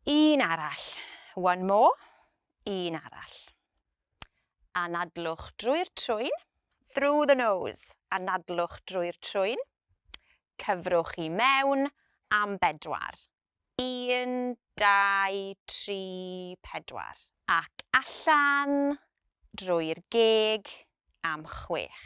Un arall. One more. Un arall. Anadlwch drwy'r trwyn. Through the nose. Anadlwch drwy'r trwyn. Cyfrwch i mewn am bedwar. Un, dau, tri, pedwar. Ac allan drwy'r geg am chwech.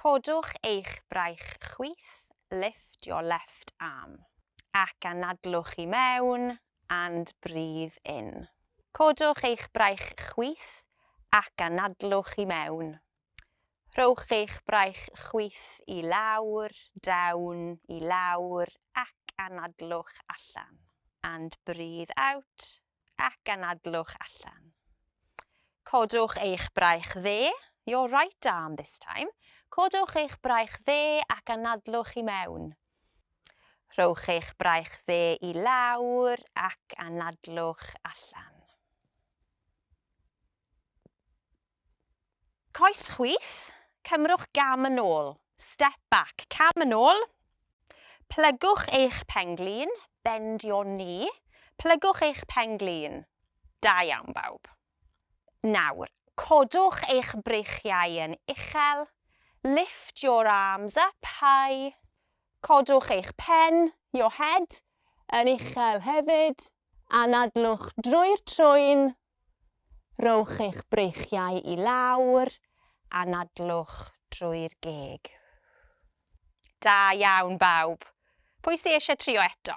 Codwch eich braich chwith, lift your left arm. Ac anadlwch i mewn and breathe in. Codwch eich braich chwith ac anadlwch i mewn. Rhowch eich braich chwith i lawr, down, i lawr ac anadlwch allan. And breathe out, ac anadlwch allan. Codwch eich braich dde, your right arm this time, codwch eich braich dde ac anadlwch i mewn. Rhowch eich braich dde i lawr ac anadlwch allan. Coes chwith, cymrwch gam yn ôl, step back, cam yn ôl, plygwch eich pen-glin, bend your knee, plygwch eich pen-glin. Da iawn bawb. Nawr, codwch eich breichiau yn uchel, lift your arms up high, codwch eich pen, your head, yn uchel hefyd, anadlwch drwy'r trwyn, Rhowch eich breichiau i lawr, anadlwch drwy'r geg. Da iawn bawb! Pwy sy eisiau trio eto?